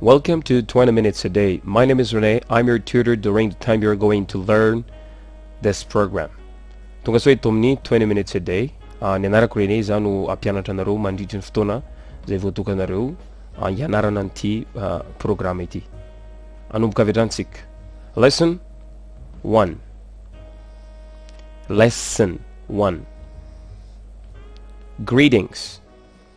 Welcome to 20 minutes a day. My name is Rene. I'm your tutor during the time you're going to learn this program. Tonga soa eto amin'ny 20 minutes a day. Ah, ny anarako Rene izaho no hampianatra anareo mandritry ny fotoana izay voatokanareo ah, hianarana an'ity ah, programme ity. Anomboka avy hatrany tsika. Lesson 1. Lesson 1. Greetings.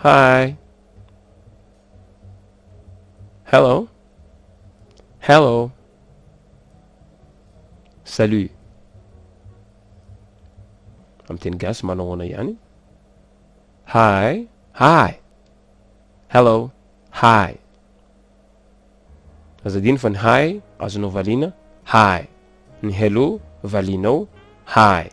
Hi. Hello. Hello. Salut. Amin'ny teny gasy manao ahoana ihany? Hi. Hi. Hello. Hi. Aza dino fa ny hi azonao valiana. Hi. Ny hello valianao. Hi.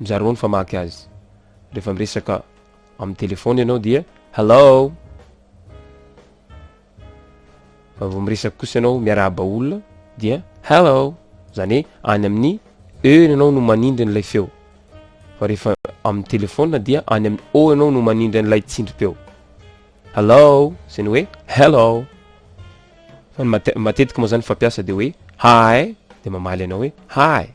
Mizarao ny famaky azy. Rehefa miresaka amin'ny telefaona ianao dia Hello! Fa vao miresaka kosa ianao miarahaba olona dia Hello! Izany hoe any amin'ny E ianao no manindry an'ilay feo. Fa rehefa amin'ny telefaona dia any amin'ny O ianao no manindry an'ilay tsindrim-peo. Hello! Izay ny hoe Hello! Fa ny matetika moa izany fampiasa dia hoe Hi! Dia mamaly ianao hoe Hi!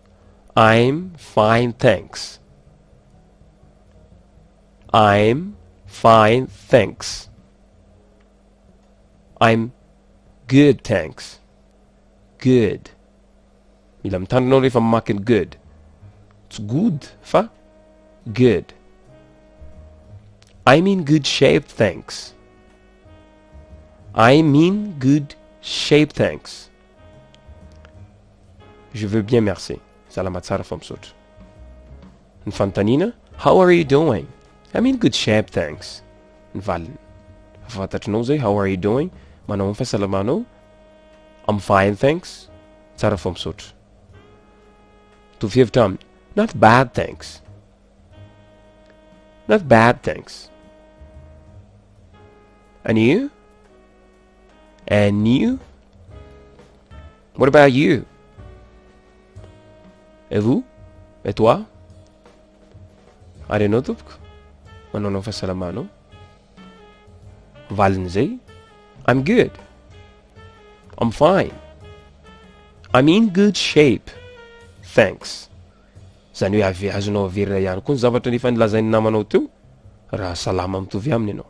I'm fine thanks I'm fine thanks I'm good thanks good mila mitandrina aho rehefa mamaky ny good tsy good fa good I'm in good shape thanks I'm in good shape thanks Je veux bien merci salama tsara fo misaotra ny fanontaniana how are you doing I'm in good shape thanks ny valiny fa fantatrinao zay how are you doing manao amin'ny fahasalamanao I'm fine thanks tsara fo misaotra mitovy hevitra aminy not bad thanks not bad thanks and you And you? What about you? Et vous? Et toi? Ary ianao tompoko? Manaonao fahasalamanao? Valin'izay, I'm good. I'm fine. I'm in good shape. Thanks. Zany hoe avy azonao averina ihany koa ny zavatra nefa nilazain'ny namanao teo raha salama mitovy aminy ianao.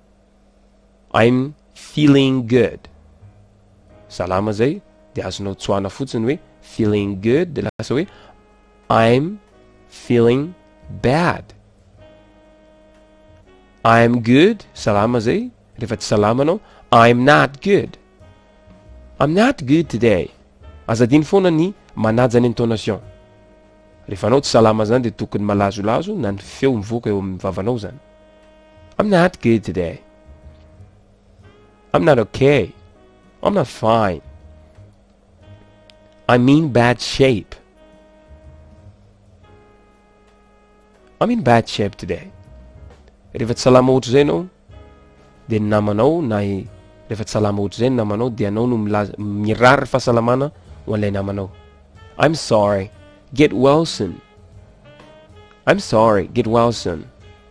I'm feeling good. Salama zay dia azonao tsoahana fotsiny hoe feeling good dia lasa hoe I'm feeling bad. I'm good, salama zay, rehefa tsy salama anao, I'm not good. I'm not good today. Aza adino foana ny manaja ny intonation. Rehefa anao tsy salama zany dia tokony malazolazo na ny feo mivoaka eo amin'ny vavanao zany. I'm not good today I'm not okay I'm not fine I'm in bad shape I'm in bad shape today rehefa tsy salama ohatra izay ianao dia ny namanao na rehefa tsy salama ohatra izay ny namanao dia anao no milaza mirary fahasalamana ho an'ilay namanao I'm sorry get well soon I'm sorry get well soon